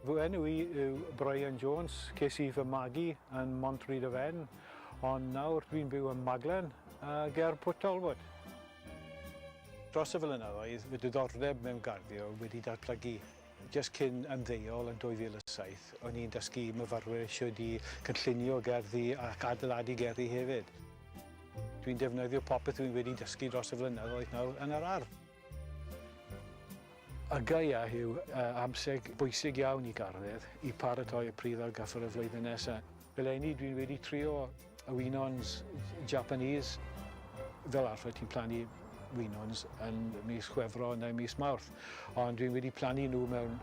Fy enw i yw Brian Jones, ces i fy magu yn Montryd y Fen, ond nawr dwi'n byw ym Maglen, ger Port Talbot. Dros y flynyddoedd, fy diddordeb mewn garddio wedi datblygu. Jyst cyn ymddeol yn 2007, o'n i'n dysgu i myfyrwyr shwd i gynllunio gerddi ac adeiladu gerddi hefyd. Dwi'n defnyddio popeth dwi wedi dysgu dros y flynyddoedd nawr yn yr ardd. Y gaeaf yw amser bwysig iawn i garddwyr i paratoi y pridd ar gyfer y flwyddyn nesaf. Eleni dwi wedi trio y winons Japanese. Fel arfer ti'n plannu winons yn mis Chwefror neu mis Mawrth, ond dwi wedi plannu nhw mewn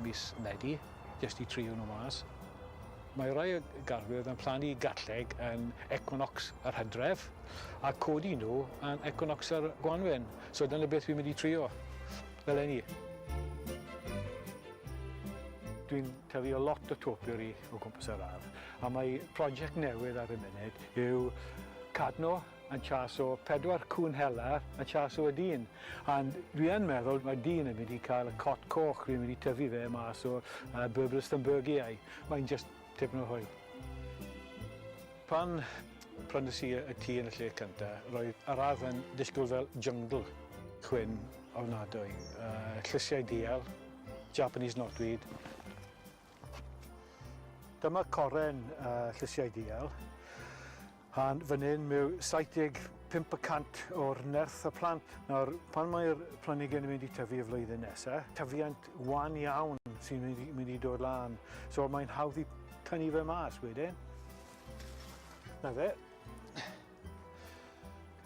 mis Medi jyst i trio nhw mas. Mae rhai garddwyr yn plannu garlleg yn equinox yr hydref a codi nhw yn equinox yr gwanwyn. So dyna beth fi'n mynd i trio eleni. Dwi'n tafio lot o topiary o gwmpas yr ardd a mae project newydd ar y munud yw cadno yn chaso pedwar cŵn hela yn chaso y dyn a dwi yn meddwl mae dyn yn mynd i cael y cot coch fi'n mynd i tyfu fe mas o uh, Berberis Thunbergiae. Mae'n just Tipyn o hwyl. Pan prynais i y tŷ yn y lle cynta, roedd yr ardd yn disgwyl fel jyngl. Chwyn ofnadwy. Yy, llysiau dial, Japanese knotweed. Dyma coren yy llysiau dial. A'n fan hyn mae 75 y cant o'r nerth y plant. Nawr, pan mae'r planhigyn yn mynd i tyfu y flwyddyn nesaf, tyfiant wan iawn sy'n mynd, mynd i dod lan. So mae'n hawdd i tynnu fe mas wedyn. Na fe.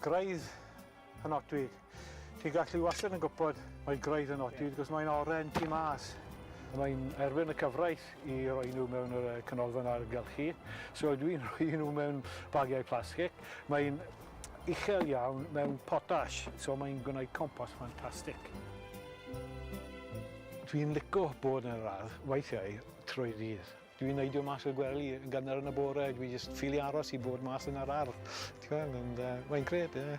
Graidd y nodwyd. Ti'n gallu wastad yn gwybod mae gwraidd yn nodwyd, yeah. cos mae'n oren tu mas. Mae'n erfyn y cyfraith i roi nhw mewn yr canolfan argylchu. So dwi'n rhoi nhw mewn bagiau plastig. Mae'n uchel iawn mewn potash, so mae'n gwneud compos ffantastig. Dwi'n lico bod yn yr ardd weithiau trwy ddydd. Dwi'n neidio mas o'r gwely yn gynnar yn y bore, dwi jyst ffili aros i bod mas yn yr ardd. Ti'n gweld, ond yy mae'n grêt, ie.